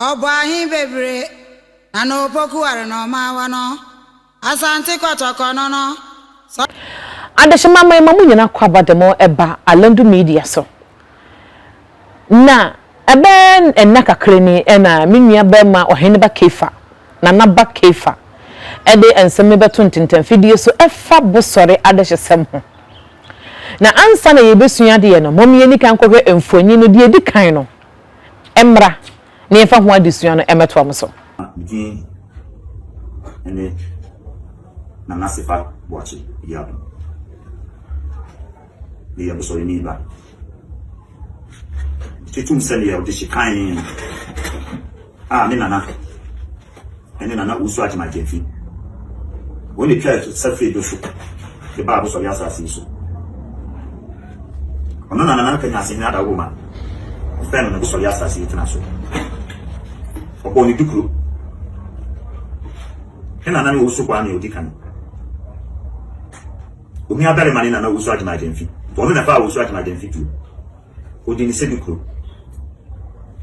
Ɔbɔ ahe bebree na na opoku ware na ɔma wɔ no Asante Kɔtɔkɔ no no sɛ. Adehyema ma yɛma mo nyina kwaba de mo ba Alandu Media so. Na ɛbɛyɛ nna kakra ni na me nuabarima Ɔheneba Keifa, Nana Ba Keifa, de nsɛm no bɛto ntentɛnfidie so ɛfa Bosɔre adehyesɛm ho. Na ansa na yɛrebɛsua adeɛ no, mom yɛnni kan nkɔhwɛ mfonin no, deɛ ɛdi kan no mmra na yɛmfa ho adesua no mmɛtoa mo so. Me din ne Nana Sefa Boakye Abiado. Meyɛ Bosɔreni ba. Etum sɛ meyɛ ɔdehye kann a me nana ne Nana Owusu Agyemang Gyamfi. Wɔn na etwaa atusa fii Dohyo de baa Abosɔre asase yi so. Ɔno na Nana Nkanyansehene Ada Owoma fɛɛ no ne Bosɔre asase yi tena so. Ɔbɔɔ ne dukuro. Ne nana ne Owusu Kwame a odi kan. Onuabarima ne nana Owusu Agyemang Gyamfi. Wɔn na ɛfaa Owusu Agyemang Gyamfi tuo. Ɔdii ne Segu kuro.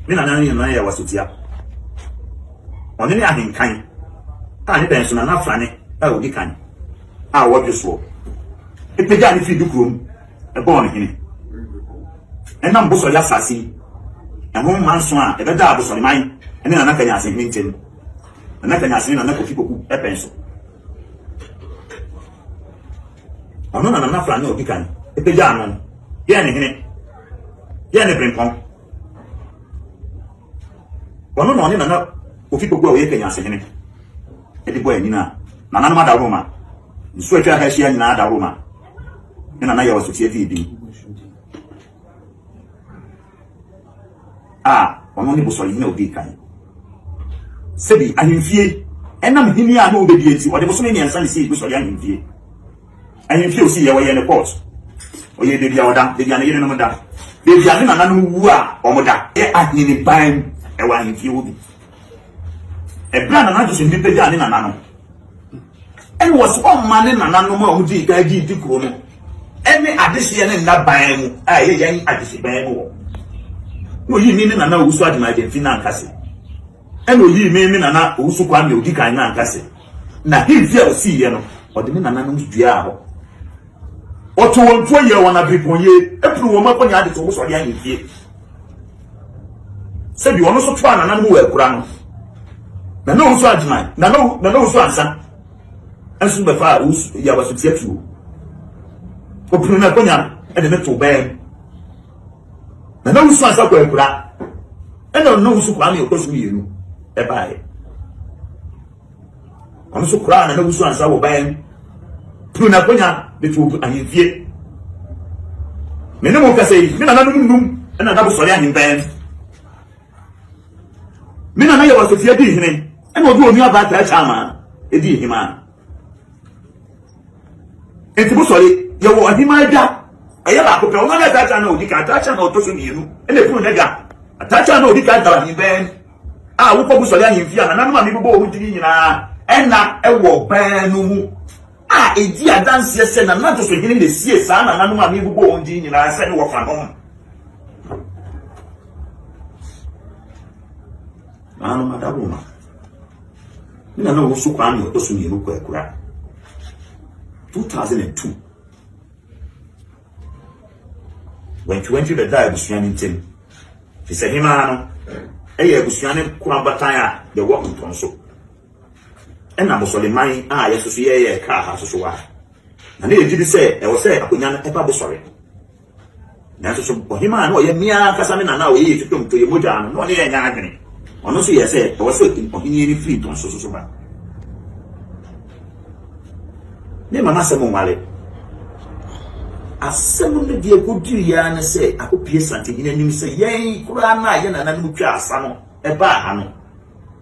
Ne nana ne nana yɛ Wasotia. Ɔno ne ahenkan a ne bɛn so Nana Frane a ɔdi kan a ɔwɔ Dwosoɔ pagyaa no firi Dukuro mu bɔɔ no hene. Ɛnam Bosɔre asase yi ho mma nson a ɛbɛdaa Bosɔreman ne Nana Kanyase hene ntam no, Nana Kanyase ne Nana Kofi Poku pɛn so. Ɔno na Nana Flange a ɔdi kan pagyaa no. Yɛn ne hene. Yɛn ne Brempɔn. Ɔno na ɔne Nana Kofi Kpoku a ɔyɛ Kenya ase hene de bɔ anyina a nananom adaworo ma. Nsuo atwa ha ahyia nyinaa adaworo ma. Ne nana yɛ ɔsotie fii din. a ɔno ne bosɔrehene a ɔdii kan. Sɛbi ahemfie ɛnam hini a na ɔbɛdie nti, ɔde bosome mmiɛnsa ne sii bosɔre ahemfie. Ahemfie a ɔsiiɛ, ɔyɛɛ ne court, ɔyɛɛ baabi a ɔda, baabi a ne yerenom da, baabi a ne nananom wu a wɔda. Yɛ aheneban ɛwɔ ahemfie hɔ bi. Ɛberɛ a Nana Joseph Mbi bɛgyaa ne nana no, ɛna ɔse ɔmma ne nananom a wɔdii kan gye di kuro no. ne adehyeɛ ne nna ban mu a ɛyɛ yɛn adehyeban mu hɔ. Na ɔyii me me nana owusu adwene Argentina ankase. Ɛna ɔyii me me nana owusu kwan deɛ ɔdi kan no ankase. Na hemfi a ɔsiiɛ no, ɔde me nananom duaa hɔ. Ɔto wɔn tuo yɛɛ wɔn abiripɔnyie, ɛpuru wɔn akonnwa ade to wɔn sɔre ahemfie. Sɛbi ɔno nso toaa nananom wɔ akura no. Nana owusu adwene, nana owusu ansa. nso bɛfa a wosu yɛ abasotia tuo. Wɔpene me akonnwa de me to bɛn mu. Na na wusu ansa kɔ akura. Ɛna ɔno na wusu kwaa me ɔkɔ so mmienu ɛbaeɛ. Ɔno nso koraa na na wusu ansa wɔ bɛn mu. Pene me akonnwa de to ahemfie. Me ne mo kasa yi, me nananom nnum ɛna na bosɔre ahembɛn. Me nana yɛ wasafie dii hene ɛna ɔde onua baa taa kyaa maa ɛdii hemaa nti mo sɔre yɛwɔ ɔhemaa adwa ɛyɛ baako pɛ ɔno ɔyɛ taa kyaa na ɔdi ka taa kyaa na ɔtɔ so mmienu ɛna ɛpunu n'adwa taa kyaa na ɔdi ka dara ne bɛn a wokɔ mo sɔre ahemfie a nananom a mebobɔ wɔn gyini nyinaa ɛna ɛwɔ bɛn no mu a edi adanseɛ sɛ nanantoso hene na esie saa nananom a mebobɔɔ wɔn din nyinaa sɛ ne wɔfanom. Nananom Adawoma ne nana wɔn so kwaa ne ɔtɔ so mmienu kɔ akura 2002 wɛntwewɛntwe bɛdaa abusua no ntam te sɛ hemaa no ɛyɛ abusua no koro abatan a yɛwɔ ntɔn so. ɛna bosɔreman a yɛsoso yɛyɛɛ kaa ha soso a, na ne yɛgye di sɛ ɛwɔ sɛ akonwa no ɛba bosɔre. Nanso so ɔhemaa na ɔyɛ mmea ankasa ne nana a ɔyɛ yɛtutom to yɛ mogyaa no na ɔne yɛn nyɛ adwene? Ɔno nso yɛɛ sɛ ɛwɔ sɛ ɔhenie no firi ntɔnso soso ba. Ne mama asɛm nware. Asɛm no deɛ ɛkɔduru yɛa ne sɛ akɔpie santehene anim sɛ yɛn koraa no a yɛ nananom twaa sa no ɛbaa ha no,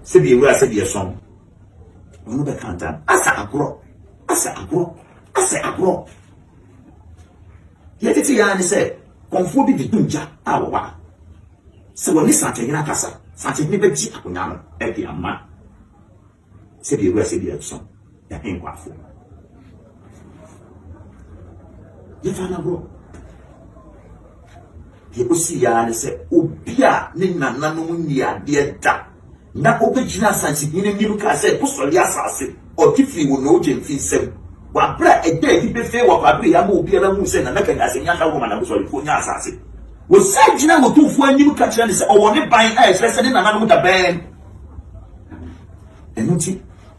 sɛdeɛ awura sɛdeɛ sɔn ɔno bɛka ntam asɛ agorɔ asɛ agorɔ asɛ agorɔ yɛ tete yɛa ne sɛ kɔnfoɔ bi de gya a wɔwa sɛ wɔne sankyɛhene akasa sankyɛhene bɛgye akonnwa no de ama sɛdeɛ awura sɛdeɛ sɔn Dahenkwafo. Yɛfa no agorɔ. Deɛ ɔsi yaa ne sɛ obi a ne nananom nni adeɛ da na ɔbɛgyina asansehene nim kaa sɛ bosɔre asase ɔte firi wo na ɔgye mfi nsam wabra ɛda adi bɛfee wɔ kwabere ya ma obiara hu sɛ nana kanya sɛ nya hɛ wɔma na bosɔrefoɔ nya asase wɔsan gyina wɔtumfoɔ anim ka kyerɛ ne sɛ ɔwɔ ne ban a ɛkyerɛ sɛ ne nananom da bɛn ɛno nti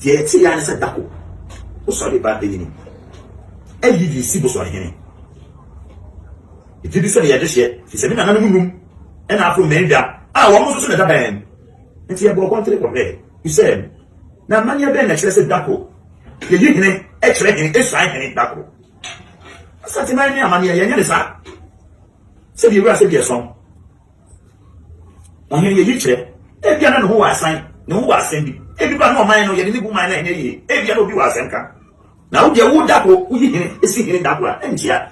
deɛ ɛte yɛ ne sɛ dako wosɔre ba ayi no ayi de si bosɔre hene ɛgye bi sɛ meyɛ dehyeɛ fi sɛ me nananom num ɛna afro mmɛndwa a wɔn nso so na ɛda bɛn nti yɛbɔ ɔkɔntere kɔhwɛ sɛ na amanneɛ bɛn na ɛkyerɛ sɛ dako yɛyi hene ɛkyerɛ hene ɛsuan hene dako asante man ne amanneɛ yɛnyɛ ne saa sɛdeɛ wura sɛdeɛ sɔn Ɔhene yi eyi kyerɛ. Ebia na ne ho wɔ asan, ne ho wɔ asɛm bi. Ebi koraa na ɔman no, yɛde ne bu man no a ɛnyɛ yie. Ebia na obi wɔ asɛm ka. Na wo deɛ wo da ko, woyi hene si hene da ko a, ɛnkyea.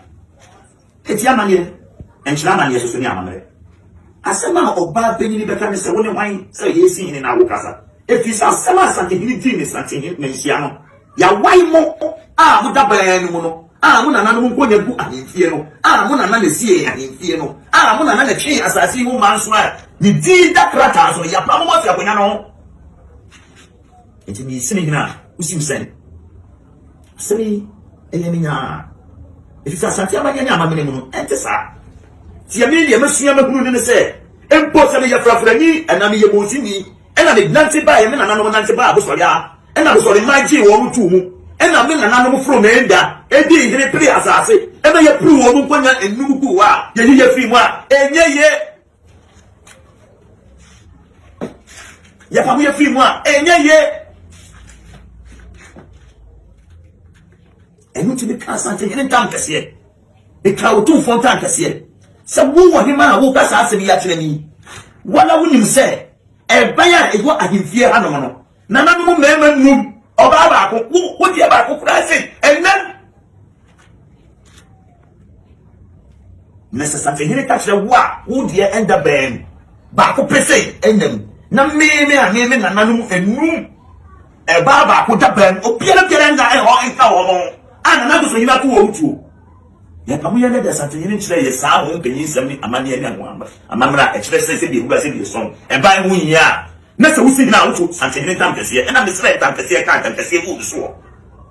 Eti amanneɛ, ɛnkyerɛ amanneɛ soso ne amammerɛ. Asɛm a ɔbaa panyin bɛka ne sɛ, Wone hwan sɛ yɛresi hene na wokasa? Efisɛ asɛm a Asantehene dii ne Santehene manhyia no, Yɛawae mo a mo dabaa no mu no, a mo nananom nkonnwa gu ahemfie no, a mo nana na ɛsiee ahemfie no, a mo nana na ɛtwee asase yi ho mmaa nso a ne din da krataa so no, yɛapamo mo afi akonnwa no ho. Enti mesi me hene a wusiw sɛn. Asɛm yi ɛyɛ me nyaa, efisɛ asante amanneɛ ne amamene mu no, ɛnte saa. Tie me, nea masua mahunu no ne sɛ, mpo sɛ meyɛ frafrani anaa meyɛ bonsinni, ɛna me nante baeɛ, me nananom nante baa abosɔre a, ɛna abosɔre mmaa gyee wɔn too mu, ɛna me nananom foro me nda, ɛdii hene pere asase, ɛna yɛpere wɔn nkɔnya nnum guu hɔ a, yɛyi yɛ firi mu a, ɛnyɛ yie. Yɛpamo yɛ firi mu a, ɛnyɛ yie. Ɛno nti me kaa Asante hene ntam kɛseɛ. Ɛtwa wo tumfoɔ nkankɛseɛ sɛ wo wɔ hema a woreka saa asɛm yi akyerɛ me yi. Woana wonim sɛ ɛban a ɛwɔ ahemfie hanom no, nananom mmarima nnum, ɔbaa baako, wo wo deɛ baako koraa sɛ ɛnam. Na sɛ safehene ka kyerɛ wo a wo deɛ ɛnda bɛn baako pɛ sɛ ɛnam. Na me me a me me nananom nnum. Ɛbaa baako da baa mu, obiara biara nna hɔ nka wɔn ho, a na n'akoso hene ako wɔ mu tuo. Nea ɛka ho yɛ ne dɛ, Asantehene no kyerɛɛ yɛn saa ho mpanyinsɛm ne amanneɛ ne amammerɛ a ɛkyerɛ sɛ sɛdeɛ wura sɛdeɛ ɛsɔn ɛban ho hia a, na sɛ wosi hene a woto Santehene ntampɛseɛ, ɛnna mesrɛɛ ntampɛseɛ kaa ntampɛseɛ guu ne soɔ.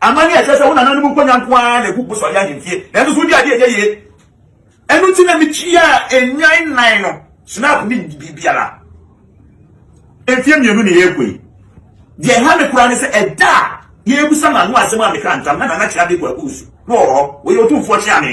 Amanneɛ a ɛkyerɛ sɛ wo nananom nkonnwa nko ara na egu Bosoayɛ ahemfie, nanso so wodi ade a ɛnyɛ yiye? Ɛno nti na mituaa nnwan nnan no snap ne biribiara. Mfeɛ mmienu na yɛrekɔ yi. Deɛ ɛha me koraa ne sɛ ɛda a yɛrebisa m'ano asɛm a mekaa ntam na Nana Kyeame Kwaku Wusu na ɔwɔ hɔ, ɔyɛ otumfoɔ Kyeame.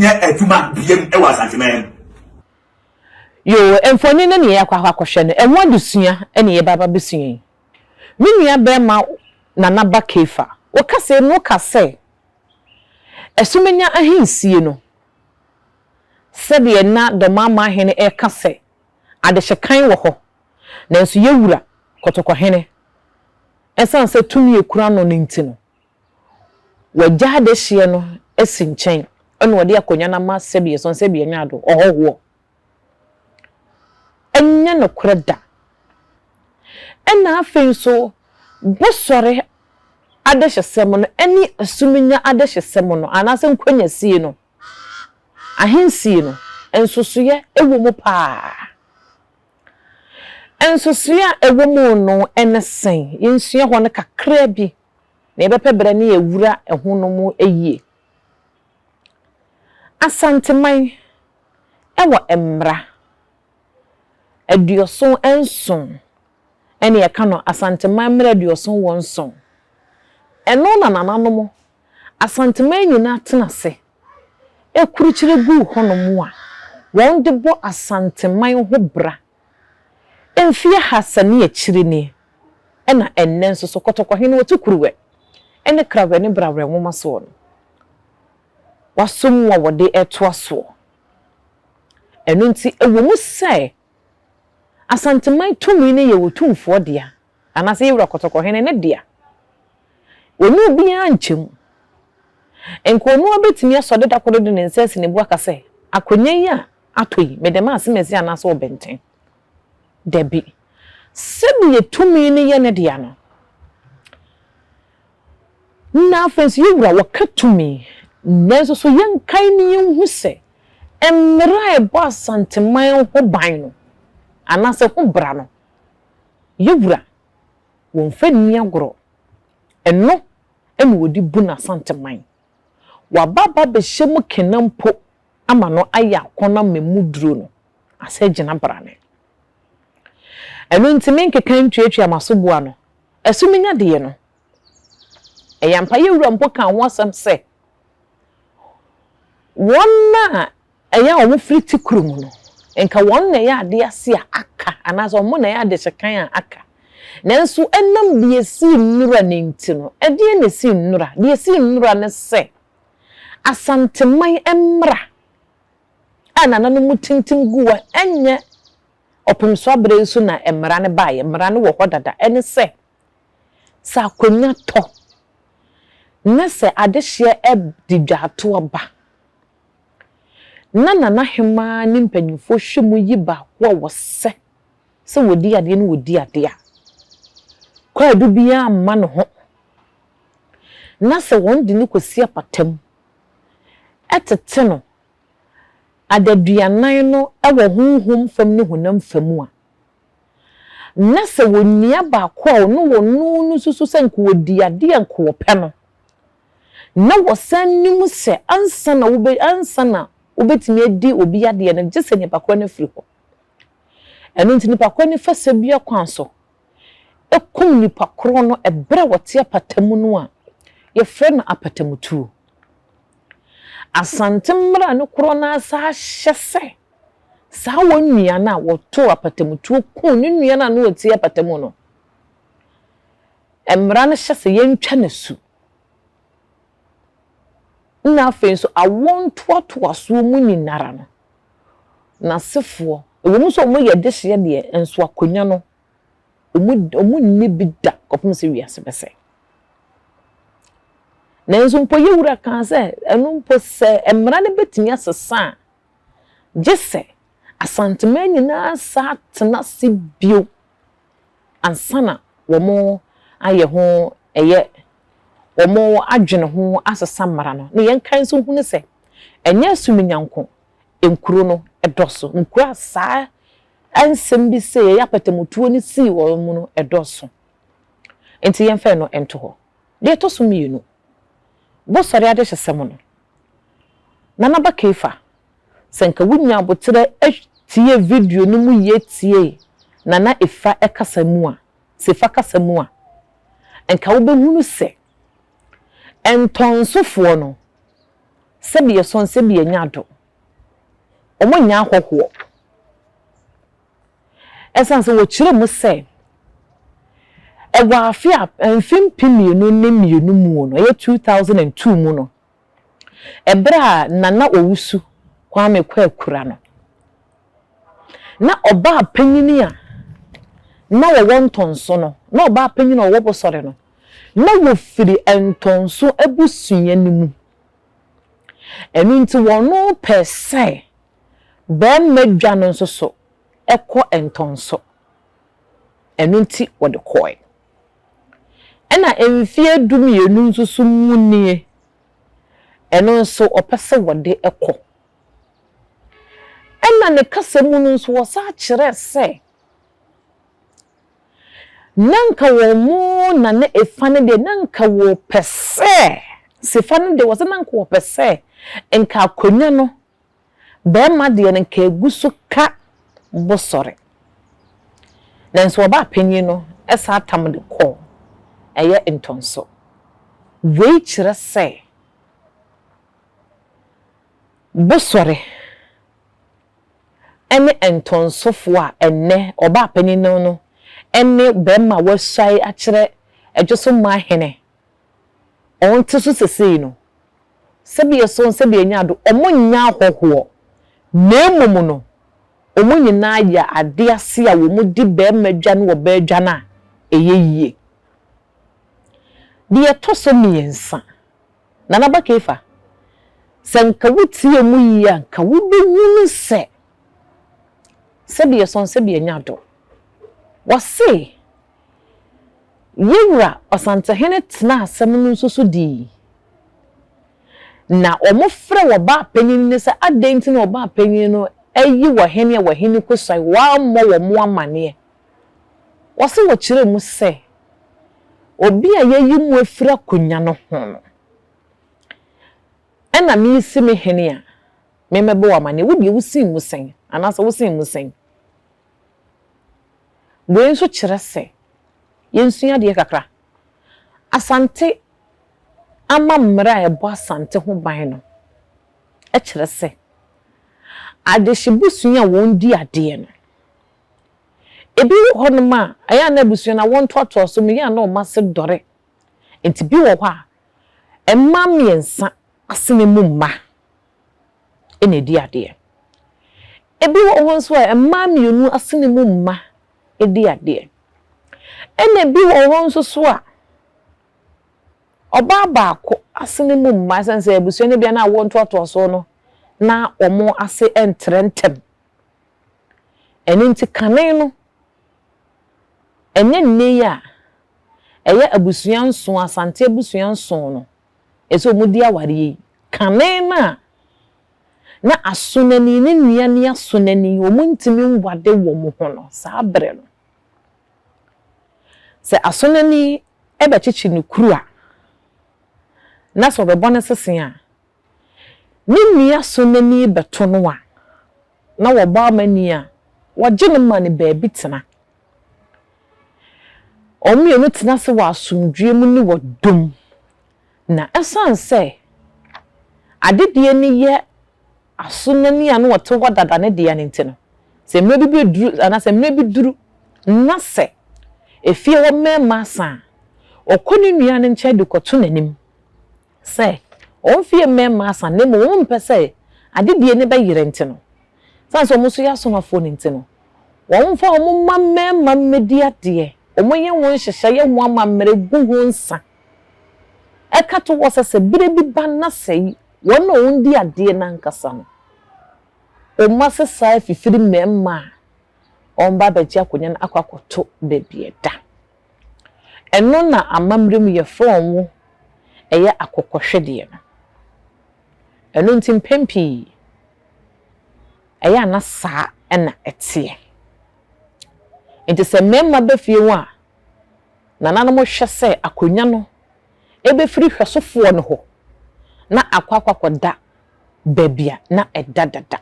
nyɛ adwuma biam wɔ Asanteman mu. Yoo, mfoni no ne yɛakɔ akɔ akɔhwɛ no, ɛho adesua ne yɛba abɛsua yi. Me nua barima Nana Ba Kefa, wo kasɛɛ mu wo ka sɛ, Asumenya ahensie no, sɛdeɛ na Dɔmamma Hene reka sɛ, Adehyekan wɔ hɔ, nanso yɛn Wura, Kɔtɔkɔhene, ɛsiane sɛ tumi a ɛkura no no nti no, Wɔagya adehyeɛ no asi nkyɛn na wɔde akonnwa no ama sɛdeɛ ɛsɔ sɛdeɛ ɛnyɛ ado, ɔhɔhoɔ. Ɛnyɛ nokorɛ da. Ɛna afei nso Bosɔre adehyesɛm no ɛne Asuminya adehyesɛm no anaasɛ Nkwagyasie no, Ahensie no, nsosoeɛ wɔ mu pa ara. Nsosoeɛ a ɛwɔ mu no ne sɛn? Yɛnsua hɔ no kakra bi na yɛbɛpɛ berɛ ne awura ɛho no mu yie. Asanteman wɔ mmara aduɔson nson, ɛne yɛka no Asanteman mmara aduɔson wɔ nson. Ɛno na nananom Asanteman nyinaa tena ase kurukyire guu hɔ nom a wɔn de bɔ Asanteman ho bra. Mfe ahasa ne akyiri ni na ɛnnɛ nso so Kɔtɔkɔhene Otu Kuruwɛ ne Krawɛ ne Brawɛ nwoma soɔ no, wɔasɔmu a wɔde retoa soɔ. Ɛno nti, ɛwɔ mu sɛ Asanteman tumi no yɛ Otumfoɔ dea anaasɛ yɛn wura kɔtɔkɔhene no dea. Ɔne obiara nkyɛ mu. Nka ɔno ara bɛtumi asɔre da koro de ne nsa asi ne bo aka sɛ, Akonnwa yi a atɔ yi, mede ma Asemasi anaasɛ Ɔbɛnten. Dabi. Sɛdeɛ tumi no yɛ ne dea no, na afei nso yɛn wura ɔka tumi. Nanso so yɛnkae na yɛnhu sɛ mmara a ɛbɔ Asanteman ho ban no, anaasɛ ho bra no, Yɛ wura, wɔmfa nni agorɔ. Ɛno na wɔde bu n'Asanteman. Waba aba bɛhyɛ mu kena mpo ama no ayɛ akɔnnɔ ama emu duro no asɛ agyina brane. Ɛno nti me nkeka ntuatua m'aso boa no. Ɛso menya deɛ no. Ɛyɛ ampa Yɛ wura mpo kaa ho asɛm sɛ, Wɔn a Ɛyɛ a wɔfiri te koro mu no, anka wɔn na ɛyɛ adeɛ ase a aka anaasɛ wɔn na ɛyɛ adeɛ sekan a aka. Nanso ɛnam deɛ ɛsii nnora no nti no, ɛdeɛn na ɛsii nnora? Deɛ ɛsii nnora ne sɛ, Asanteman mmara a nananom tintim gu hɔ, ɛnyɛ ɔpemso aberɛ yi so na mmara no baeɛ. Mmara no wɔ hɔ dada. Ɛne sɛ, sɛ akonnwa tɔ na sɛ adehyeɛ de dwaatoɔ ba, Ná Nana Hemaa ne mpanyimfo hwɛ mu yi baako a wɔsɛ sɛ wɔdi adeɛ no wɔdi adeɛ a kwaadu biara mma ne ho na sɛ wɔde no kɔsi apata mu tete no adaduanan no wɔ honhom fam ne honam fa mu a, na sɛ wɔnua baako a ɔno wɔno no susu sɛ nka ɔdi adeɛ a nka ɔpɛ no. na wɔsan nim sɛ ansa na wobe ansa na wobetumi adi obi adeɛ no, gye sɛ nipa korɔ no firi hɔ. Ɛno nti nipa korɔ no fa sabua kwan so kum nipa korɔ no ɛberɛ a wɔte apata mu no a yɛfrɛ no apatamutuo. Asante mmara no korɔ no ara saa hyɛ sɛ saa wɔn nua no a wɔtoo apatamutuo kuu ne nua no a na ɔte apata mu no, mmara no hyɛ sɛ yɛntwa no asu. Nna afei so awoɔ ntoatoasoɔ mu nyinara no, n'asefoɔ, ɛwɔ mu sɛ wɔyɛ dehyeɛ deɛ, nso akonwa no, wɔnnya bi da kɔpem sɛ wiase bɛsɛe. Nanso mpo yɛ Wura kaa sɛ, ɛno mpo sɛ mmara no bɛtumi asesa a, gyesɛ Asanteman nyinaa saa tena ase bio. ansa na wɔayɛ ho ɛyɛ wɔn adwene ho asesa mmara no. Na yɛn kan nso hunu sɛ ɛnyɛ Suminya nko nkuro no dɔso, nkuro a saa nsɛm bi sɛ yɛyɛ apatamutuo no sii wɔn mu no dɔso. Nti yɛmfa ɛno nto hɔ. Deɛ ɛtɔ so mmienu, Bosɔre adehyesɛm no, Nana Ba Keifa Sɛ nka wunya aboterɛ tiee video no mu yie tiee na na efa kasa mu a, sɛ efa kasa mu a, nka wobɛhunu sɛ ntɔnsofoɔ no, sɛdeɛ sɔn sɛdeɛ nya do, wɔn nyɛ ahɔhoɔ. Ɛsiane sɛ wɔkyerɛ mu sɛ ɛwɔ afe a mfe mpem mmienu ne mmienu mu no, ɛyɛ 2002 mu no, Ɛberɛ a Nana Owusu Kwame kɔ akura no, na ɔbaa panyini a na ɔwɔ Ntɔnso no, na ɔbaa panyini a ɔwɔ Bosɔre no, na wɔfiri Ntɔnso abusua no mu. Ɛno nti wɔpɛɛ sɛ barima dwa no nso so kɔ Ntɔnso. Ɛno nti wɔde kɔeɛ. Ɛna mfeɛ du mmienu nso so mu nie, ɛno nso ɔpɛ sɛ wɔde kɔ. Ɛna ne kasa mu no nso ɔsan kyerɛɛ sɛ, na nka wɔn na na efa no deɛ na nka wɔpɛ sɛ, sefa no deɛ ɔse na nka wɔpɛ sɛ nka akonnwa no Bɛɛma deɛ no nka ɛgu so ka bo sɔre. Nanso ɔbaa panin no saa tam de kɔ ɛyɛ ntɔnso. Wei kyerɛ sɛ bo sɔre ɛne ntɔnsofoɔ a ɛnnɛ ɔbaa panin no ɛne bɛɛma a wasuae akyerɛ ɛdwoso mmaa hene. Hɔn tse so sesei no, sɛbeɛ so nsɛdeɛ nya do, wɔnnyɛ ahɔhoɔ, na mmom no, wɔn nyinaa yɛ adeɛ ase a wɔdi barima dwan wɔ baa dwan a ɛyɛ yie. Deɛ ɛtɔ so mmiɛnsa, Nana Aba Keifa, sɛ nka wotie mu yie a, nka wobɛhunu sɛ, sɛdeɛ so nsɛdeɛ nya do, wɔse Yɛn Wura Ɔsantehene tenaa asɛm no nso so dii. Na wɔfrɛɛ ɔbaapanyin no sɛ adɛn nti na ɔbaapanyin no ayi ɔhene a ɔhene kɔsuae, wammɔ wɔn amanneɛ. Wɔse wɔkyerɛɛ mu sɛ, Obi a yɛayi mo afiri akonwa no ho no na meresi me hene a memmɛbɔ wo amanneɛ. Wo deɛ wosen mu sɛn? Anaasɛ wosen mu sɛn? Wei nso kyerɛ sɛ yɛnsua adeɛ kakra. Asante ama mmara a ɛbɔ Asante ho ban no kyerɛ sɛ adehye busua a wɔdi adeɛ no, ebi wɔ hɔnom a ɛyɛ a na abusua no awoɔ ntoatoasoɔ mu, ɛyɛ a na wɔn ase dɔre. Nti bi wɔ hɔ a, mmaa mmiɛnsa asene mu mma na ɛdi adeɛ. Ɛbi wɔ hɔ nso a, mmaa mmienu asene mu mma di adeɛ. Ɛna ɛbi wɔ hɔ nso so a, ɔbaa baako asene mu mma, ɛsiane sɛ abusua no bia na awoɔ ntoatoasoɔ no, na wɔn ase ntrɛ ntɛm. Ɛno nti kane no, ɛnyɛ nnɛ yi a ɛyɛ abusua nson, Asante abusua nson no, ɛsɛ sɛ wɔdi awareɛ yi kane no a, na asonani ne nua ne asonani wɔntumi nware wɔn ho no, saa berɛ no, sɛ asonani bɛkyekye ne kuru a, na sɛ ɔbɛbɔ no sese a, ne nua asonani bɛto no a, na wɔbɔ amanneɛ a, wɔgye no ma no baabi tena. Wɔn mmienu tena ase wɔ asomdwoeɛ mu ne wɔ dɔ mu. Na ɛsiane sɛ adedie no yɛ asonani a na wɔte hɔ dada no dea no nti no, sɛ mmerɛ bi bɛduru anaa sɛ mmerɛ bi duru na sɛ efie hɔ mmarima asa a, ɔkɔ ne nua no nkyɛn de kɔto n'anim. sɛ wɔmfa yɛn mmɛn mma asa, na mmom wɔmpɛ sɛ adedie no bɛyerɛ nti no, ɛsiane sɛ wɔn nso yɛ asomafoɔ no nti no, wɔmfa wɔn mma mmarima mmɛdi adeɛ, wɔnyɛ ho nhyehyɛeɛ ho amammerɛ gu ho nsa, ɛka to hɔ sɛ sɛ berɛ bi ba na sɛ wɔn na wɔdi adeɛ no ankasa no, wɔn mma sesa fifiri mmarima a wɔba abɛgye akonnwa no akɔ akɔto baabi a ɛda. Ɛno na amammerɛ mu yɛ frɔn wo ɛyɛ akokɔhwedeɛ no. Ɛno nti mpɛn pii ɛyɛ a na saa na ɛteɛ. Nti sɛ mmarima ba fie ho a, nananom hwɛ sɛ akonnwa no bɛfiri hwɛsofoɔ no hɔ na akɔ akɔda baabi a na ɛda dada.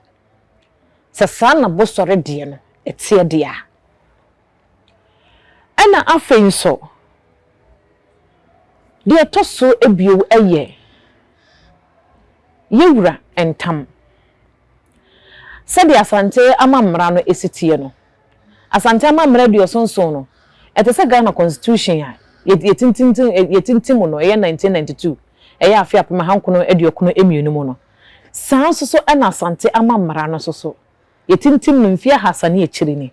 Sɛ saa na bosɔre deɛ no teɛ deɛ a, Ɛna afei nso, deɛ ɛtɔ so abio yɛ yɛwura ntam. Sɛdeɛ Asante amammara no si teɛ no, Asante amammara aduoso nson no, ɛte sɛ Ghana Constitution a yɛtintim no, ɛyɛ 1992, ɛyɛ afe apem ahankron aduokron mmienu mu no. Saa nso so na Asante amammara no nso so, yɛtintim no mfeɛ ahasa ne akyire ni.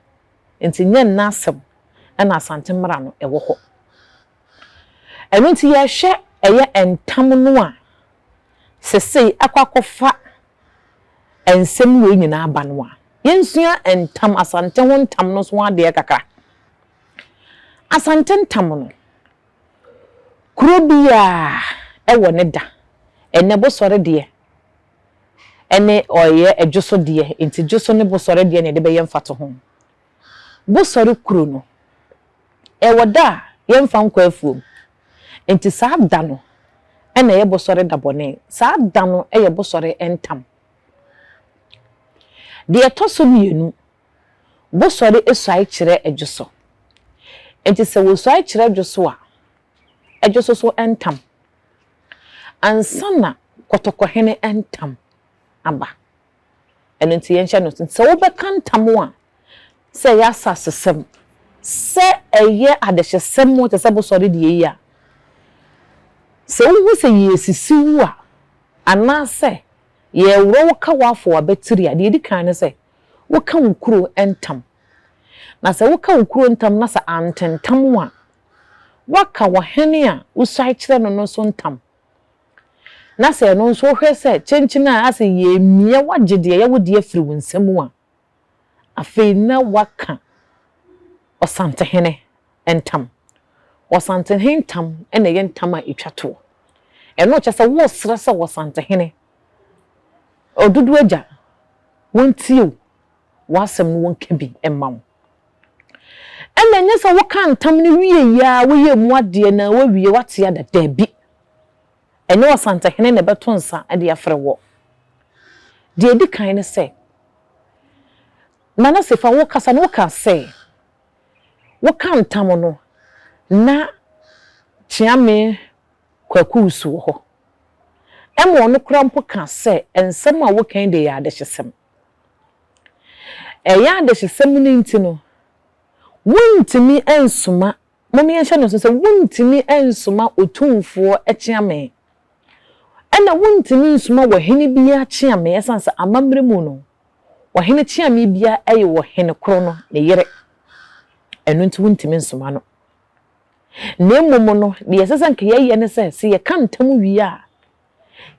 Nti nyɛ nna asɛm na Asante mmara no wɔ hɔ. Ɛno nti yɛhwɛ ɛyɛ ntam no a sesei akɔ akɔfa nsɛm wei nyinaa aba no a, yɛnsua ntam, Asante ho ntam no nso ho adeɛ kakra. Asante ntam no, kuro biara wɔ ne da. Ɛnnɛ Bosɔre deɛ, ne ɔyɛ adwosodeɛ nti dwoso ne bosɔre deɛ na yɛde bɛyɛ mfatoho. Bosɔre kuro no, ɛwɔ da a yɛmfa nkɔ afuom nti saa da no na ɛyɛ bosɔre da bɔne, saa da no yɛ bosɔre ntam. Deɛ ɛtɔ so mmienu, bosɔre suae kyerɛ dwoso nti sɛ wɔsuae kyerɛ dwoso a, dwoso so ntam ansa na kɔtɔkɔhene ntam aba. Ɛno nti yɛnhyɛ no nsow sɛ wobɛka ntam a, sɛ ɛyɛ asasesɛm, sɛ ɛyɛ adehyesɛm te sɛ bosɔre deɛ yi a, sɛ wuhu sɛ yɛresisi wo a, anaasɛ yɛreworɔ wo ka w'afoa abatiri a, deɛ ɛdi kan ne sɛ, woka wo kuro ntam. Na sɛ woka wo kuro ntam na sɛ antentam wo a, woaka ɔhene a wosuae kyerɛ no no so ntam, na sɛ ɛno nso wohwɛ sɛ kyenkyen a ase yɛremmia woagye deɛ ɛyɛ wo deɛ afiri wo nsa mu a, afei na woaka ɔsantehene ntam. Ɔsantehene ntam na ɛyɛ ntam a ɛtwa toɔ. Ɛno kyerɛ sɛ woresrɛ sɛ ɔsantehene, Oduduagya, wɔntie wo, w'asɛm no wɔnka bi mma wo. Ɛna ɛnyɛ sɛ wokaa ntam no wieeɛ ara woyɛɛ mu adeɛ na woawie woate ada, daabi. Ɛnyɛ ɔsantehene na ɛbɛto nsa de afrɛ woɔ. Deɛ ɛdi kan ne sɛ, Nanase fa wo kasa no wokaa sɛ wokaa ntam no na Kyeame Kwaku Wusu wɔ hɔ. Ɛma ɔno koraa mpo kaa sɛ nsɛm a woka yi deɛ ɛyɛ adehyesɛm. Ɛyɛ a adehyesɛm no nti no, wontumi nsoma, mom yɛnhyɛ no nso sɛ wontumi nsoma otumfoɔ kyeame, ɛna wontumi nsoma ɔhene biara kyeame, ɛsiane sɛ amammerɛ mu no, ɔhene kyeame biara yɛ ɔhene koro no ne yere, ɛno nti wontumi nsoma no. Na mmom no, deɛ ɛsɛ sɛ anka yɛyɛ ne sɛ, sɛ yɛka ntam wie a,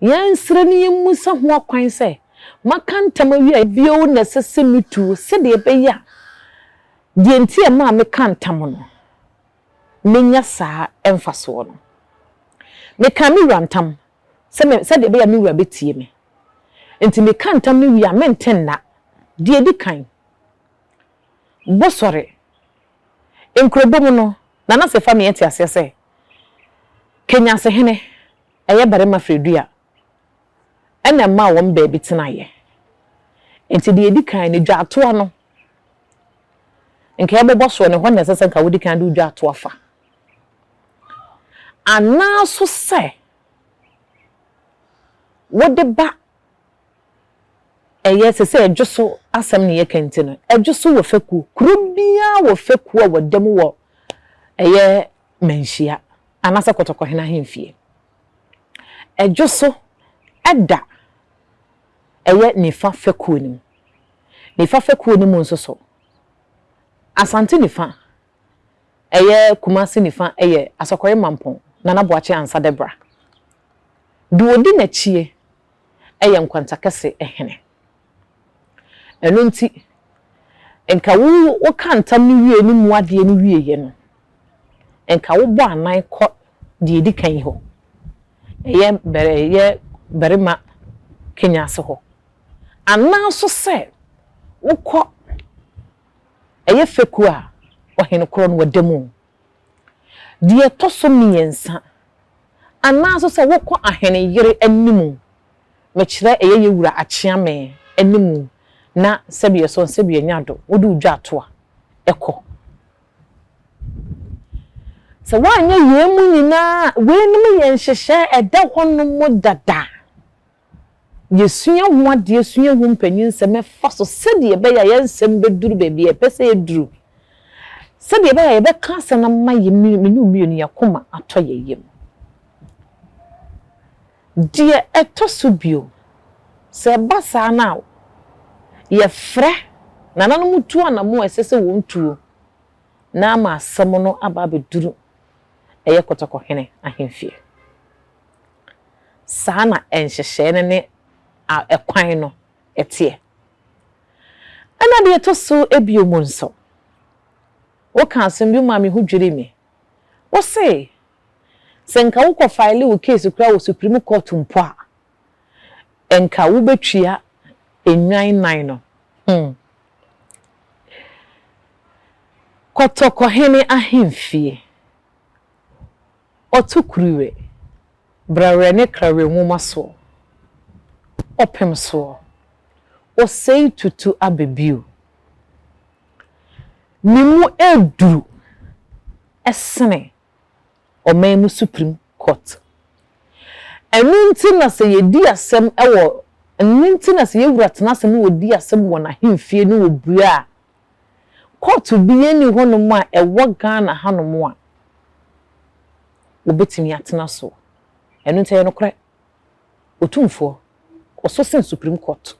Yɛnsrɛ na yɛmmisa ho akwan sɛ, Maka ntam awie a, bio na ɛsɛ sɛ metu sɛdeɛ ɛbɛyɛ a deɛ nti a ɛmaa mekaa ntam no, mɛnya saa mfasoɔ no? Mekaa me wura ntam sɛ sɛdeɛ ɛbɛyɛ a me wura bɛtie me, enti meka ntam no wie a, mente nna. Deɛ ɛdi kan, Bosɔre nkurobɔ mu no, Nana Sefamie te aseɛ sɛ Kenyasehene. Ɛyɛ barima frɛ du a, ɛna ɛmaa wɔn baabi tenaeɛ. Enti deɛ ɛdi kan no, dwaatoa no, nka yɛbɛbɔ soɔ no, ɛhɔ na ɛsɛ sɛ nka wodi kan de wo dwaatoa fa. Anaa nso sɛ wode ba ɛyɛ sɛ sɛ ɛdwo so asɛm na yɛka nti no, ɛdwo so wɔ fekuo. Kuro biara wɔ fekuo a wɔda mu wɔ ɛyɛ manhyia anaasɛ kɔtɔkɔhene ahemfie. Ɛdwo so da ɛyɛ nifa fɛkuo no mu. Nifa fɛkuo no mu nso so, Asante nifa, ɛyɛ Kumasi nifa yɛ Asɔkɔre Mampong, Nana Boakye Ansa Deborah. Deɛ ɔdi n'akyie yɛ Nkwantakɛse hene. Ɛno nti, nka wo wo ka ntam no wie no mu adeɛ no wieɛ no, nka wo bɔ anan kɔ deɛ ɛdi kan yi hɔ, ɛyɛ bɛrɛ ɛyɛ barima Kenya ase hɔ, anaa nso sɛ wo kɔ ɛyɛ fɛkuo a ɔhene korɔ no wɔ da mu Deɛ ɛtɔ so mmiɛnsa, anaa nso sɛ wokɔ ahene yere anim, mekyerɛ ɛyɛ yɛ wura Akyeame anim na sɛbeɛ sɔn sɛbeɛ nyado, wode wo dwa ato a, ɛkɔ. Sɛ woanyɛ yei mu nyinaa a, weinom yɛ nhyehyɛɛ ɛda hɔnom dada. yesua ho adeɛ, sua ho mpanyinsɛm, ɛfa so sɛdeɛ ɛbɛyɛ a yɛn nsɛm bɛduru baabi a ɛpɛ sɛ ɛduru, sɛdeɛ ɛbɛyɛ a yɛbɛka asɛm no ama yɛn mmienu mmienu yɛn akoma atɔ yɛn yam. Deɛ ɛtɔ so bio, sɛ ɛba saa no a, yɛfrɛ nananom tu anammɔn a ɛsɛ sɛ wɔn tuo na ama asɛm no aba abɛduru ɛyɛ kɔtɔkɔhene ahemfie. Saa na nhyehyɛe no ne kwan no teɛ. Ɛnna deɛ ɛtɔ so abien mu nso, wokaa asɛm bi maa me ho dwirii me. Wose, sɛ nka wokɔfaele wo keesi koraa wɔ Supreme Court mpo a, nka wobɛtua nnwan nnan no. Hmm. Kɔtɔkɔhene ahemfie. Ɔto kuruwɛ, brawerɛ ne krawerɛ nwoma soɔ, ɔpem soɔ, ɔsɛe tutu aba bio. Ne mu ɛreduru sene ɔman mu Supreme Court. Ɛno nti na sɛ yɛdi asɛm wɔ, ɛno nti na sɛ yɛwura tena ase ne ɔdi asɛm wɔ n'ahemfie ne ɔbue a, Court biaa nni hɔnom a ɛwɔ Ghana hanom a wɔbɛtumi atena soɔ. Ɛno nti ɛyɛ nokorɛ, Otumfoɔ, ɔsɔ sen Supreme Court.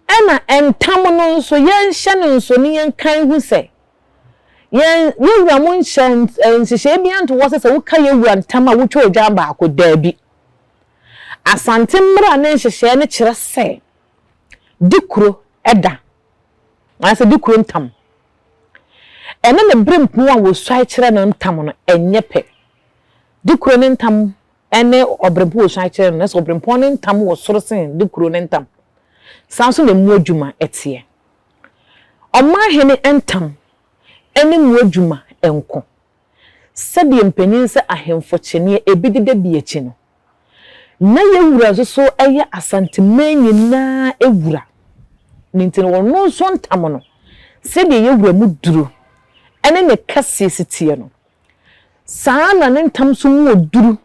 Ɛna ntam no nso, yɛnhyɛ no nso ne yɛnkan hu sɛ, yɛn yɛwura mo nhyɛ nhyehyɛeɛ biaa nto hɔ sɛ sɛ woka yɛwura ntam a wotwa odwan baako. Daabi. Asante mmara ne nhyehyɛeɛ no kyerɛ sɛ, di kuro da anaasɛ di kuro ntam. Ɛne ne berempɔn a wɔsuae kyerɛ no ntam no nyɛ pɛ. Di kuro no ntam ne ɔberempɔn a wɔsuae kyerɛ no, na ɛsɛ sɛ ɔberempɔn no ntam wɔ soro sen di kuro no ntam. Saa ara nso na mmoa adwuma teɛ. Ɔmanhene ntam ne mmoa adwuma nko. Sɛdeɛ mpanin sɛ ahemfo kyeneɛ, ebi deda bi akyi no, Na yɛn wura nso so yɛ Asanteman nyinaa wura. Ne nti no, ɔno nso ntam no, sɛdeɛ yɛn wura mu duro ne ne kɛseɛ si teɛ no, saa ara na ne ntam nso mu wɔ duru,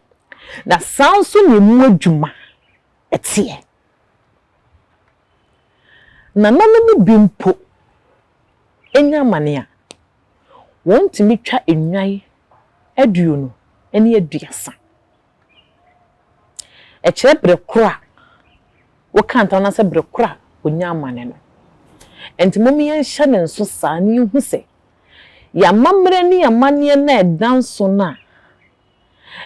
na saa ara nso na emu adwuma teɛ. Nana no mu bi mpo, nya amane a, wɔtumi twa nnwan aduonu ne aduasa. Ɛkyerɛ berɛ korɔ a woka ntam anaasɛ berɛ korɔ a ɔnya amane no. Enti momma yɛnhyɛ no nso saa na yɛnhu sɛ yɛn amammerɛ ne yɛn amanneɛ no a ɛda nso no a,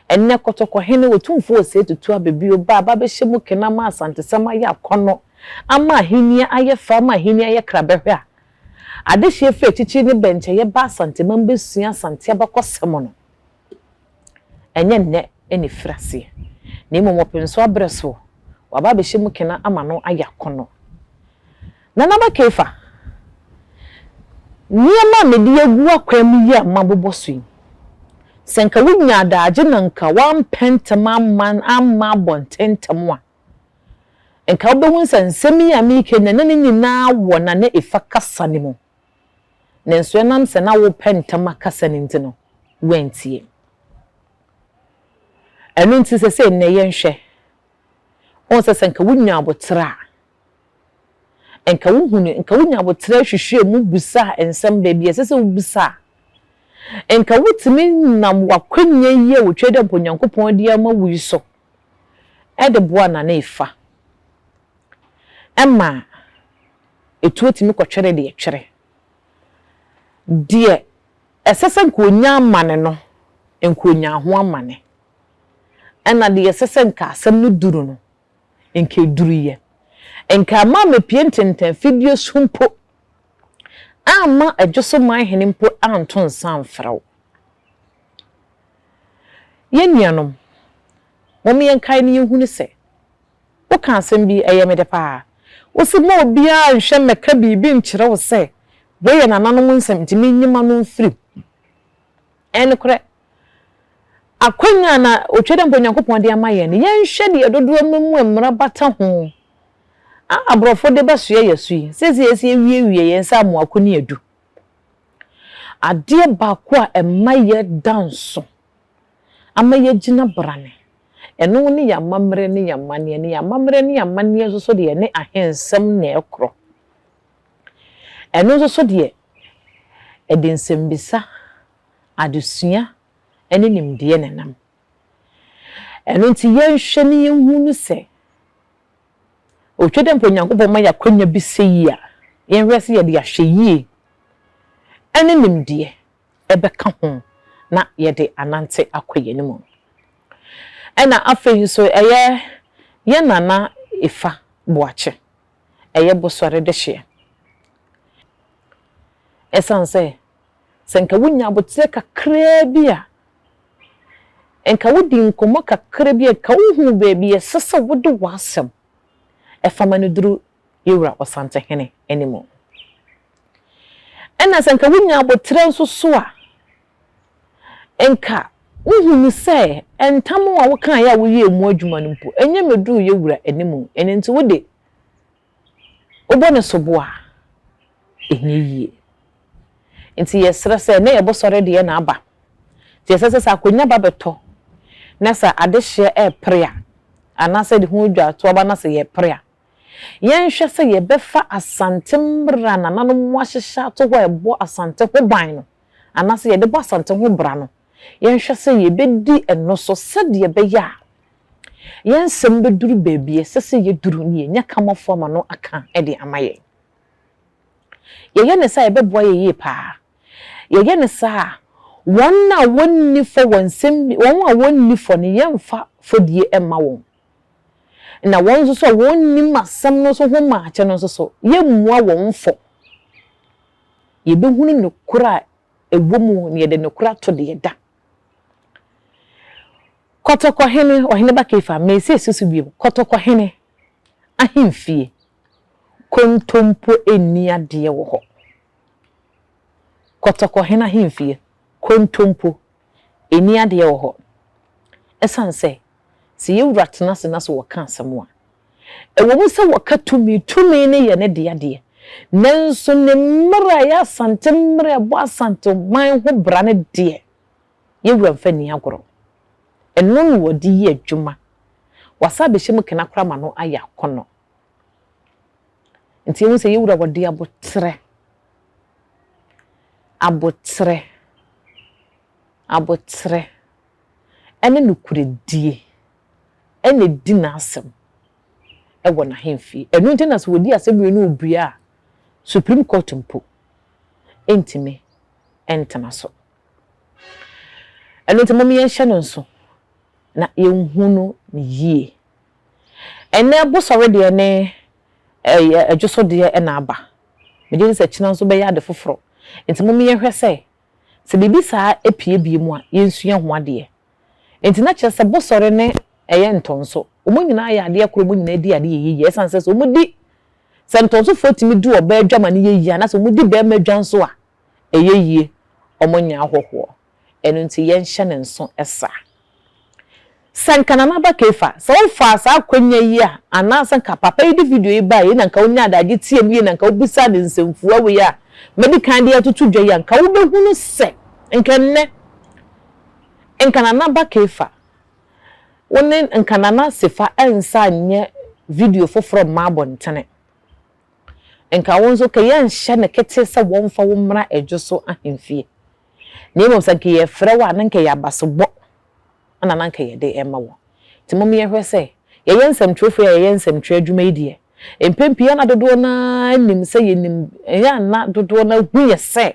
Ɛnnɛ Kɔtɔkɔhene Otumfoɔ Osei Tutu Ababio ba aba abɛhyɛ mu kena ama Asantesɛm ayɛ akɔnnɔ, ama ahenni ayɛ fɛ, ama ahenni ayɛ krabɛhwɛ a, adehyeɛ firi akyirikyiri ne bɛnkyɛeɛ ba Asanteman bɛsua Asante abakɔsɛm no. Ɛnyɛ nnɛ na ɛfiri aseɛ, na mmom ɔpensoɔ aberɛ soɔ, waba abɛhyɛ mu kena ama no ayɛ akɔnnɔ. Nanaba Keefa, Nneɛma a mede agu akwan mu yi a mabobɔ so yi, sɛ anka wunya adaagye na anka woampɛ ntɛm amma amma abɔ ntɛmntɛm a, anka wubehu sɛ nsɛm yi a mereka yi na na ne nyinaa wɔ na na efa kasa no mu. Nanso ɛnam sɛ na worepɛ ntɛm akasa no nti no, woantie. Ɛno nti sɛ sɛ nnɛ yɛnhwɛ, wohu sɛ sɛ anka wunya aboterɛ a, Nka wuhu no, nka wunya boterɛ hwehwɛɛ mu bisaa nsɛm baabi a ɛsɛ sɛ wubisa a, nka wutumi nam w'akwannya yi a otwa dɛ mpo Onyankopɔn de ama wo yi so de boa no a, na efa. Ɛma etuo tumi kɔtwere deɛ ɛtwere. Deɛ ɛsɛ sɛ nka onya amane no, nka onyaa ho amane. Ɛna deɛ ɛsɛ sɛ nka asɛm no duru no, nka eduru yɛ. Nka ama mepie ntentɛn fidue so mpo amma Adwosoman Hene mpo anto nsa amfrɛ wo. Yɛn nuanom, mom yɛnkae na yɛnhunu sɛ, woka asɛm bi, ɛyɛ me dɛ paa. Wose mma obiara nhwɛ mmɛka biribi nkyerɛ wo sɛ wei yɛ nananom nsɛm nti menyima no mfirim. Ɛyɛ nokorɛ, Akwannya na otwa dɛ mpo Nyankopɔn de ama yɛn no, yɛnhwɛ deɛ dodoɔ no mu mmara bata ho a aborɔfo de bɛsoɛ yɛn so yi. Seesei yɛasi awiewie yɛn nsa amoako ne adu. Adeɛ baako a ɛma yɛda nso ama yɛagyina brane, ɛno ne yɛn amammerɛ ne yɛn amanneɛ, na yɛn amammerɛ ne yɛn amanneɛ nso so deɛ ne ahensɛm na ɛkorɔ. Ɛno nso so deɛ, ɛde nsɛmmisa. adesua ne nimdeɛ na ɛnam. Ɛno nti yɛnhwɛ na yɛnhu no sɛ, otwa dɛ mpo Onyankopɔn ma yɛn akwanya bi sɛ yi a, yɛnhwɛ sɛ yɛde ahwɛyie ne nimdeɛ bɛka ho na yɛde anante akɔ yɛn anim. Ɛna afei nso ɛyɛ yɛn Nana Efa Boakye, ɛyɛ Bosɔre dehyeɛ. Ɛsiane sɛ Sɛ nka wunya aboterɛ kakraa bi a, nka wodi nkɔmmɔ kakra bi a, nka wuhu baabi a ɛsɛ sɛ wode w'asɛm fa ma no duru yɛn Wura Ɔsantehene anim. Ɛnna sɛ nka wunya aboterɛ nso so a, nka wuhu no sɛ ntam a wokaeɛ a woyɛɛ mu adwuma no mpo, ɛnyɛ mmɛduruu yɛn Wura anim. Ɛno nti, wo de, wobɔ no sobo a, ɛnyɛ yie. Nti yɛsrɛ sɛ, ɛnnɛ yɛ bosɔre deɛ na aba, nti ɛsɛ sɛ sɛ akonnwa ba bɛtɔ na sɛ adehyeɛ repere a, anaasɛ de ho dwatoa ba na sɛ yɛrepere a, yɛnhwɛ sɛ yɛbɛfa Asante mmara a nananom ahyehyɛ ato hɔ a ɛbɔ Asante ho ban no, anaasɛ yɛde bɔ Asante ho bra no, yɛnhwɛ sɛ yebedi ɛno so sɛnea ɛbɛyɛ a yɛn nsɛm beduru baabi a ɛsɛ sɛ yeduru na yɛanya Kamafo ama no aka de ama yɛn. Yɛyɛ no saa a, ɛbɛboa yɛn yiye paa. Yɛyɛ no saa a, wɔn a wonni fɔ wɔ nsɛm bi, wɔn a wonni fɔ no, yɛremfa fɔdie mma wɔn, na wɔn nso so a wɔnnim asɛm no so ho maakyɛ no nso so, yɛremmua wɔn fɔ. Yebehunu nokorɛ a ɛwɔ mu na yɛde nokorɛ ato deɛ da. Kɔtɔkɔhene, Ɔhene ba Kefar, Mesia si so bio, Kɔtɔkɔhene ahemfie, kontompo nni adeɛ wɔ hɔ. Kɔtɔkɔhene ahemfie, kontompo nni adeɛ wɔ hɔ. Ɛsiane sɛ Sɛ yɛn Wura tena ase na sɛ wɔka asɛm a, ɛwɔ mu sɛ wɔka tumi, tumi no yɛ ne dea deɛ, nanso ne mmerɛ a ɛyɛ Asante mmerɛ a ɛbɔ Asanteman ho bra no deɛ, yɛn Wura mfa nni agorɔ. Ɛno na ɔde yɛ adwuma. Wasan abɛhyɛ mu kena koraa ma no ayɛ akɔnnɔ. Nti yɛhu sɛ yɛn Wura ɔde aboterɛ, aboterɛ, aboterɛ, ne nokorɛdie na ɛdi n'asɛm wɔ n'ahemfie. Ɛno nti na sɛ wɔdi asɛnnua no ɔbue a, Supreme Court mpo ntumi ntena so. Ɛno nti mom yɛnhyɛ no nso na yɛnhu no no yie. Ɛnnɛ bosɔre deɛ ne ɛdwosodeɛ na aba. Megye di sɛ kyena nso bɛyɛ ade foforɔ. Nti mom yɛnhwɛ sɛ Sɛ biribi saa pue bio mu a, yensua ho adeɛ. Enti na kyerɛ sɛ bosɔre ne ɛyɛ ntɔnso. Wɔn nyinaa yɛ adeɛ koro, wɔn nyinaa di adeɛ yɛ yie. Ɛsiane sɛ sɛ wɔdi, sɛ ntɔnsofoɔ tumi di ɔbaa dwa ma no yɛ yie anaasɛ wɔdi barima dwa nso a, ɛyɛ yie. Wɔnyɛ ahɔhoɔ. Ɛno nti yɛnhyɛ no nso saa. Sɛ nka Nana Aba Keefa, sɛ wofaa saa akwanya yi a, anaa sɛ nka papa yi de video yi bae yi na nka onyaa adagye tiee mu yie na nka obisaa no nsɛmfua wei a madi kan de atoto dwa yi a, nka wobɛhunu sɛ nka nnɛ nka Nana Aba Keefa, wo ne nka Nana Sefa nsa nyɛ video foforɔ mma abɔntene. Nka wo nso ka yɛnhyɛ no kete sɛ wɔmfa wo mmra Adwo so ahemfie. Na mmom sɛ anka yɛfrɛ wo a, na anka ɛyɛ abasobɔ na na anka yɛde rema wo. Nti mom yɛnhwɛ sɛ yɛyɛ nsɛmtwerɛfoɔ yi a yɛyɛ nsɛmtwerɛ adwuma yi deɛ, mpɛn pii na dodoɔ no ara nim sɛ yɛnim, ɛyɛ a na dodoɔ no ara hu yɛ sɛ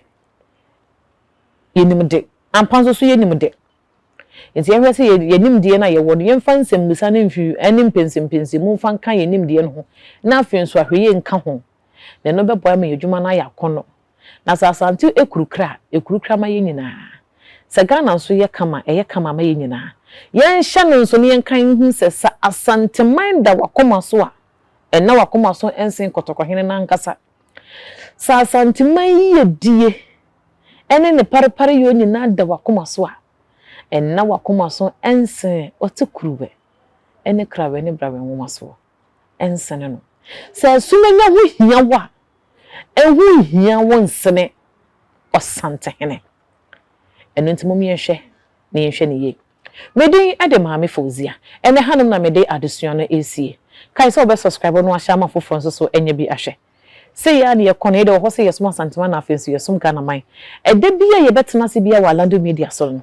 yɛnim de. Ampa nso so yɛnim de. Nti yɛnhwɛ sɛ yɛn yɛn nimdeɛ no a yɛwɔ no, yɛmfa nsɛmmisa no mfi ne mpɛnsɛmpɛnsɛmu mfa nka yɛn nimdeɛ no ho, na afei nso ahwɛyie nka ho. Na ɛno bɛboa yɛn ama yɛn adwuma no ayɛ akɔnnɔ. Na sɛ Asante ekurukra a, ekurukra ma yɛn nyinaa. Sɛ Ghana nso yɛ kama a, ɛyɛ kama ma yɛn nyinaa. Yɛnhyɛ no nso na yɛnka nhu sɛ, sɛ Asanteman da w'akoma so a, ɛnna w'akoma so nsen Kɔtɔkɔhene no ankasa. Sɛ Asanteman yiyedie ne ne parepareyɔ nyinaa da w'akoma so a, ɛnna w'akoma so nsen Ɔtekuruwɛ ne Krawɛ ne Brawɛ nwomasoɔ. nsene no. Sɛ asumannya ho hia wo a, ɛho nhia wo nsene ɔsantehene. Ɛno nti mom yɛnhwɛ na yɛnhwɛ no yie. Me din de Maame Fauzia. Ɛnnɛ hanom na mede adesua no resie. Kae sɛ wobɛ subscribe na wahyɛ ama afoforɔ nso so anya bi ahwɛ. Sei ara na yɛkɔ no, yɛde wɔ hɔ sɛ yɛsom Asantewaa na afei nso yɛsom Ghanaman. Ɛda biara yɛbɛtena ase biara wɔ Alando Media so no,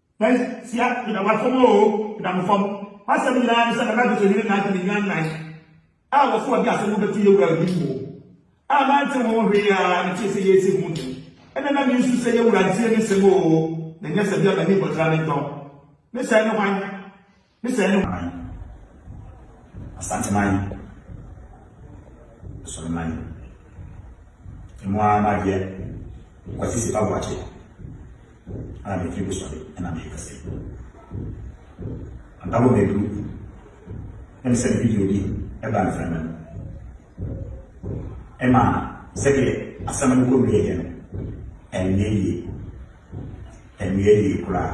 Persia Kunamanfo mu oo, Kunamanfo mu, m'asɛm nyinaa ne sɛ na Lapido hene Nadi ne nyan nnan a wɔfo adi asɛm no bɛto yɛn wura Ndim mu oo, a mante ho hwee a metee sɛ yɛresi ho ntɛm, ɛnna na minsu sɛ yɛn wura ntie me nsɛm oo, na ɛnyɛ sɛ bia m'ani bɔtra ne ntɔn. Me sɛɛ ne hwan? Ne sɛ ne man, Asanteman, Asoreman, emu ara m'adeɛ Kwasi Sipa Boakye a mefiri Busɔre na merekasa yi. Ampabɔ maduru na me sɛne video bi ɛbaa mframa mu. Ɛma sɛdeɛ asɛm no kɔwieeɛ no, ɛnnyɛɛ yie. Ɛnnyɛɛ yie koraa.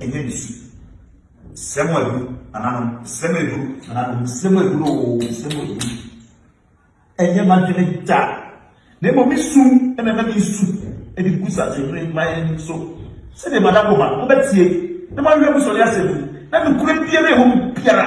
ɛnyɛ ne su sɛm a ɛduru ananom sɛm a ɛduru ananom sɛm a ɛduru oo sɛm a ɛduru ɛnyɛ m'adwene da na mmom me su ɛna ɛna me su ɛde gu sakyehene mman so sɛdeɛ madakoma mobɛtie na moahwɛ mu sɔre asɛm mu na nokorɛ biara ɛwɔ mu biara